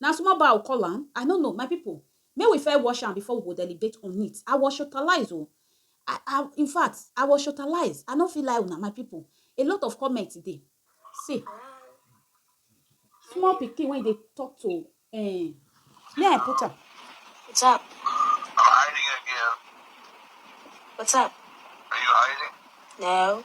Na small bar u call am? I no know, my people make we first wash am before we go deliberate on it, I was shotalize o, I I in fact I was shotalize, I no fit lie una my people, a lot of comment dey, see small pikin wey dey talk to um may I put am. What's up? Hiding again. What's up? Are you hiding? No.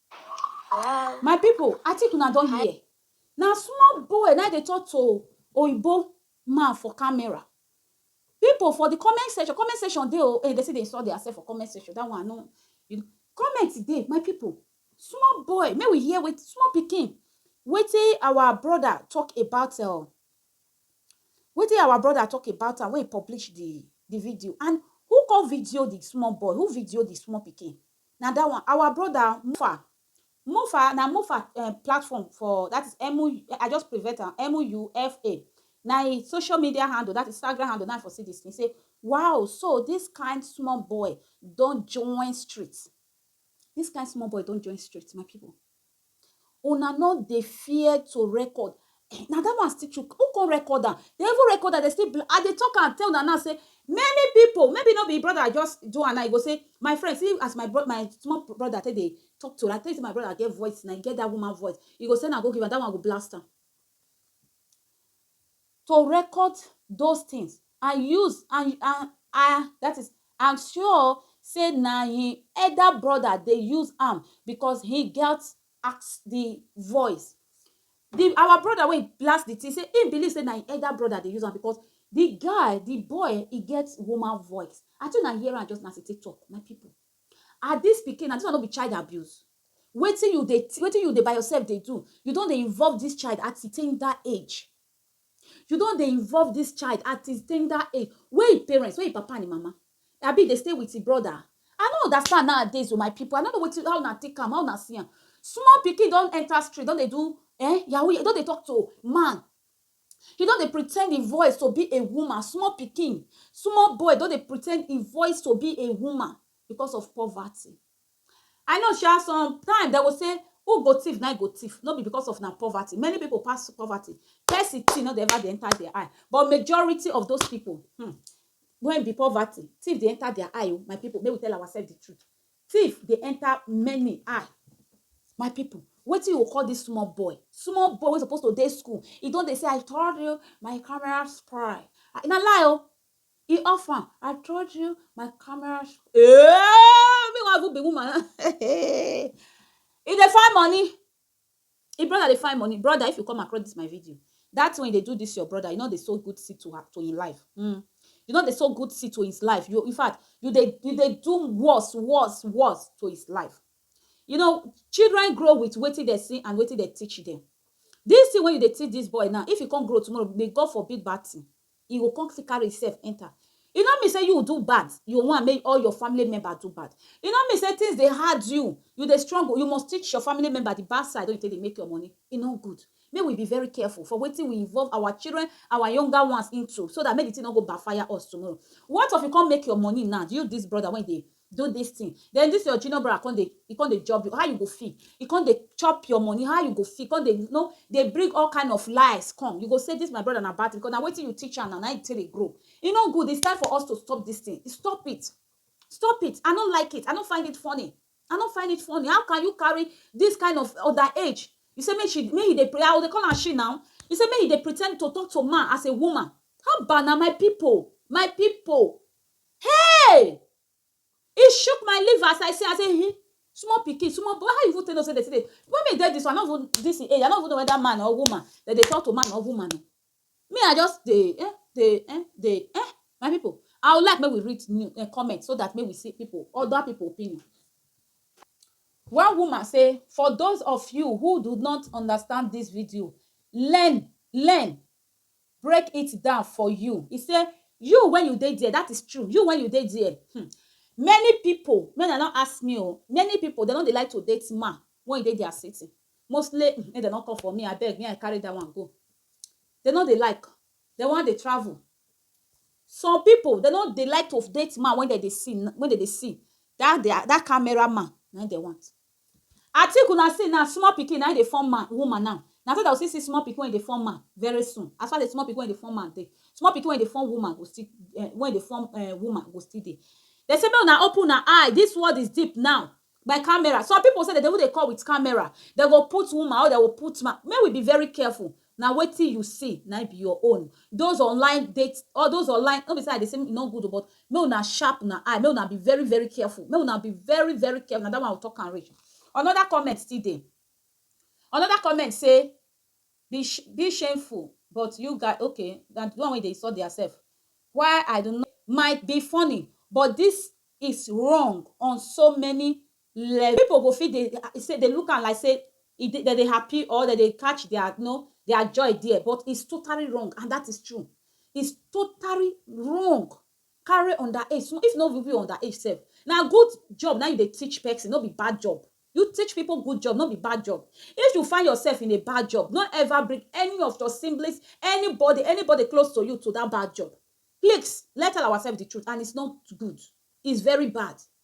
My people, I think una don hear. Na small boy na dey talk to oyibo man for camera. People for the comment section, comment section dey o, eh, they still dey insult their self for comment section. That one no, you know, comment dey, my people. Small boy, make we hear wetin small pikin, wetin our brother talk about um wetin our brother talk about am when he publish the the video and who come video the small boy, who video the small pikin? Na that one our brother Mufa Mufa na Mufa um platform for that is M U I just prevent am M U F A na him social media handle that is Instagram handle na for see this thing say wow so this kind small boy don join street this kind small boy don join street my people Una no dey fear to record na that one still choke who come record am they even record am they still bla I dey talk am tell una now say many people maybe no be him brother just do am now he go say my friend see as my bro my small brother take dey talk to her tell you say my brother get voice now he get that woman voice he go send am go give am that one go blast am to record those things and use and and and that is and sure say na him elder brother dey use am because he get ask the voice the our brother wey blast the thing say he believe say na him elder brother dey use am because the guy the boy he get woman voice i think na hear am just na as he take talk my people ah this pikin na this one no be child abuse wetin you dey wetin you dey by yourself dey do you don dey involve this child at ten that age You don dey involve dis child at im tender age, where im parents, where im papa and im mama? Abi e dey stay with im brother? I no understand nowadays o my people, I no know wetin, how una take am, how una see am. Small pikin don enter street don dey do eh yahoo, don dey talk to man, e don dey pretend im voice to be a woman, small pikin, small boy don dey pretend im voice to be a woman because of poverty. I know sha some time dem go say who go thief na im go thief no be because of na poverty many people pass poverty person thing no dey ever dey enter their eye but majority of those people hmm when be poverty thief dey enter their eye oh my people make we tell ourselves the truth thief dey enter many eye my people wetin you go call this small boy small boy wey suppose to dey school e don dey say I turned you my camera spoil na lie oh E off am, I told you my camera eh me wan even be woman now e dey find money e brother dey find money brother if you come across this my video that thing wey you dey do this your brother you no dey sow good seed to her to him life mm. you no dey sow good seed to his life you in fact you dey you dey do worse worse worse to his life you know children grow with wetin dem see and wetin dem teach them this thing wey you dey teach this boy now if he come grow tomorrow may God forbid bad thing E go come still carry himself enter. E no mean say you do bad, you want make all your family members do bad. E no mean say things dey hard you, you dey struggle, you must teach your family members the bad side wey you take dey make your money. E no good. Make we be very careful for wetin we involve our children, our younger ones into so that make the thing no go backfire us tomorrow. What of you come make your money now, you this brother wey you dey do this thing then this your junior brother come dey he come dey job you how you go feel he come dey chop your money how you go feel come dey no dey bring all kind of lies come you go say this my brother na bad thing because na wetin you teach am na na him take dey grow e no good it's time for us to stop this thing stop it stop it i no like it i no find it funny i no find it funny how can you carry this kind of other age you say make she make you dey pray i go dey call am she now you say make you dey pretend to talk to man as a woman how about na my people my people Hey! E shook my liver as I see am, I say um small pikin, small boy, how you even take know sey dem still dey, when me dey dis one I no even, dis im age, I no even know whether man or woman, dem dey talk to man or woman o. Me I just dey um dey um dey um my pipu, I would like make we read new um comment so dat make we see pipu, other pipu opinion. One woman say, for those of you who do not understand dis video, learn, learn, break it down for you e say you when you dey there that is true you when you dey there hmm, many people make dem no ask me o oh, many people dem no dey like to date man when e dey their city mostly hmm, make dem no come for me abeg me i carry that one go dem no dey like dem wan dey travel some people dem no dey like to date man when dem dey see when dem dey see that their that camera man na im dem want I think una see now small pikin na im dey form man woman now na so dem go still see small pikin wey dey form man very soon as far as small pikin wey dey form man dey small pikin wey dey form woman go still um wey dey form um woman go still dey dem say make una open una eye this world is deep now by camera some people sef dem dey even dey come with camera dem go put woman or dem go put man make we be very careful Na wetin you see na im be your own. Those online date all those online no be say I dey say e no good o but make una sharp una eye make una be very very careful make una be very very careful na that one I talk am reach. Another comment still dey another comment say be be shameful but you guy okay na the one wey dey insult their self why I do not might be funny but this is wrong on so many Leh, pipo go fit dey say dey look am like say e dey dem dey happy or dem dey catch dia you know dia joy dia but it's totally wrong and dat is true it's totally wrong carry under age small if no be even under age sef na good job na im you dey teach pesin no be bad job you teach pipo good job no be bad job if you find yourself in a bad job no ever bring any of your siblings anybody anybody close to you to dat bad job please let's tell ourselves de truth and it's not good it's very bad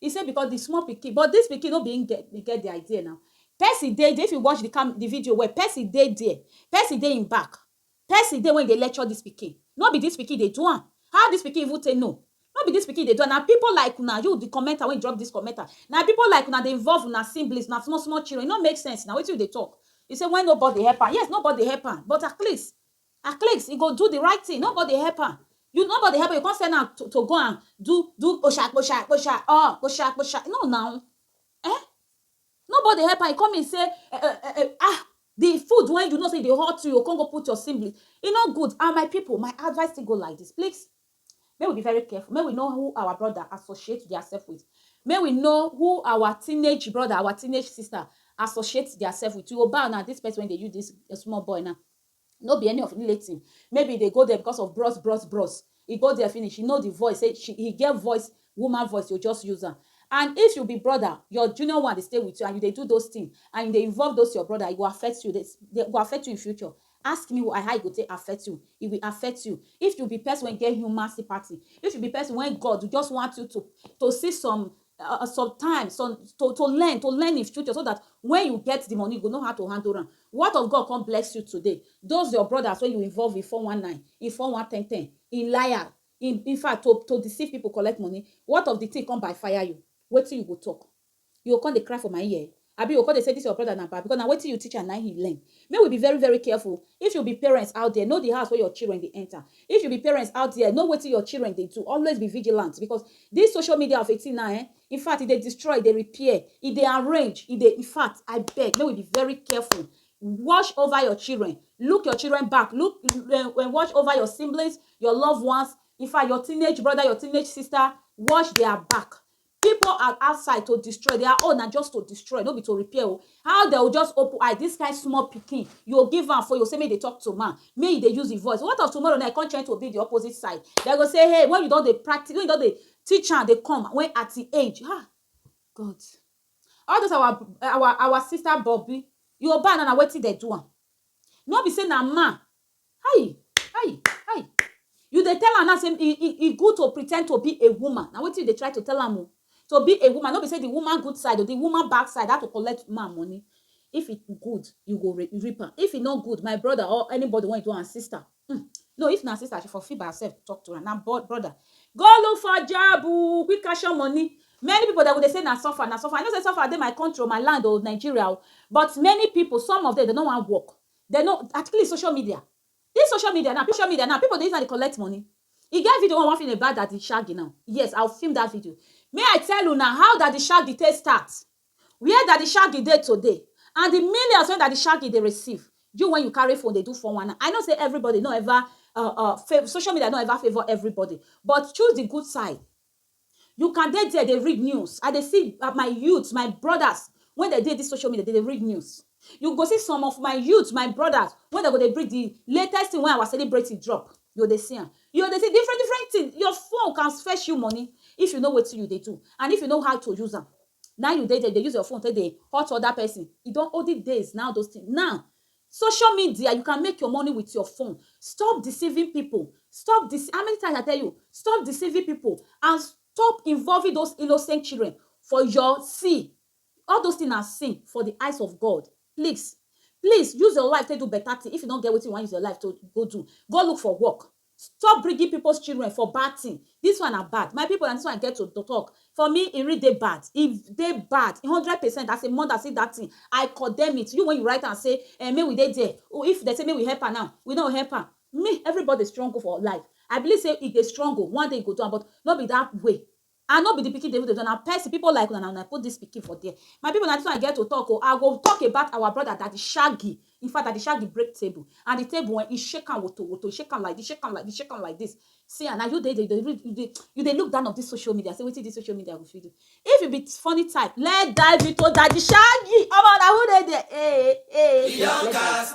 He say because the small pikin, but this pikin no be him get, dey get the idea now. Percy dey there, if you watch the cam, the video well, Percy dey there. Percy dey him back. Percy dey when he dey lecture this pikin. No be this pikin dey do am. How this pikin even take know? No be this pikin dey do am. Na people like una, you the commenter wey drop this commenter, na people like una dey involve una siblings, una small small children. E no make sense now. Wetin you dey talk? He say when nobody help am. Yes, nobody help am, but at least, At least he go do the right thing nobody help am you nobody help am you come send am to to go and do do kposha kposha kposha uh kposha kposha no na eh nobody help am e come mean say eh eh eh eh ah the food wey you know say e dey hot you you go come go put your sibling e no good and my people my advice still go like this please make we be very careful make we know who our brother associate theirself with make we know who our teenage brother our teenage sister associate theirself with you go bow na this person wey dey use this eh, small boy now No be any of Nletim. Maybe e dey go there because of bros bros bros. E go there finish, e know the voice say she he get voice, woman voice to just use am. And if you be brother, your junior one dey stay with you and you dey do those things and you dey involve those your brother, e go affect you, e go affect you in future. Ask me why, how e go take affect you? E will affect you. If you be person wey get human sympathy, if you be person wey God just want you to to see some um some time some to to learn to learn in future so dat wen you get di money you go know how to handle am what of God come bless you today those your brothers wey you involve in four one nine in four one ten ten in liar in infact to to deceive people collect money what of di thing come by fire you wetin you go talk you go come dey cry for my ear Abi you go come dey say this your brother na bad because na wetin you teach am na im he learn. Make we be very very careful. If you be parents out there, know the house wey your children dey enter. If you be parents out there, know wetin your children dey do. Always be vigilant because this social media of a thing now eh, in fact e dey destroy, e dey repair, e dey arrange, e dey in fact I beg make we be very careful. Watch over your children, look your children back, look um watch over your siblings, your loved ones, in fact your teenage brother, your teenage sister, watch their back. People are outside to destroy their own na just to destroy no be to repair o how dem go just open eye this kind small pikin you go give am phone you go say make e dey talk to man make e dey use him voice what of tomorrow now e come try to be the opposite side dem go say hey when you don dey practice when you don dey teach am dey come when at him age ha God all those our our our sister bobby Yoruba now na wetin dem do am no be say na man Hi! Hi! Hi! You dey tell am now say e e e good to pretend to be a woman, na wetin you dey try to tell am o. To be a woman, no be say the woman good side o, the woman bad side, how to collect man money. If e good, you go re reap am. If e no good, my brother or anybody wey you don and sister um no, if na sister, she for fit by herself talk to am. Na bro brother, go look for job oh, quick cash your money. Many pipu dem go dey say na suffer, na suffer. I know say suffer dey my country o, my land o, Nigeria o, but many pipu, some of dem, dem no wan work. Dem no at please social media this social media now social media now people dey use am dey collect money e get video wey I wan film about daddy shaggy now yes I will film that video make I tell una how daddy shaggy take start where daddy shaggy dey today and the millions wey daddy shaggy dey receive you when you carry phone dey do four one nine I know say everybody no ever um um social media no ever favour everybody but choose the good side You can dey there dey read news, I dey see my youths, my brothers wey dem dey dis social media, dem dey read news. You go see some of my youths, my brothers wey dem go dey bring the latest thing wey our celebrity drop, you go dey see am. You go dey see different different things, your phone can fetch you money if you know wetin you dey do and if you know how to use am. Na im you dey there dey use your phone take dey hurt other person. E don olden days na all those things. Now, Social media you can make your money with your phone stop deceiving people stop dece how many times I tell you stop deceiving people and stop involving those innocent children for your see all those things na sin for the eyes of God please please use your life take do better thing if you no get wetin you wan use your life to go do go look for work Stop bringing people's children for bad thing this one na bad my people na this one I get to talk for me e really dey bad e dey bad hundred percent as a mother see that thing I condemn it you when you write am say eh make we dey there if dem say make we help am now we no go help am me everybody struggle for life I believe say if dey struggle one day e go do am but no be that way I no be the pikin Davido, na person, people like una na una put this pikin for there. My people na this one I get to talk o, I go talk about our brother Daddy Shaggy, in fact Daddy Shaggy break table and the table eh, he shake am woto woto, he shake am like this, shake am like this, shake am like this. See ah, na you dey dey dey read, you dey you dey look down of this social media, say wetin this social media go fit do. If you be funny type, let's dive into Daddy Shaggy, omo na who dey there, eh eh eh. Young cast.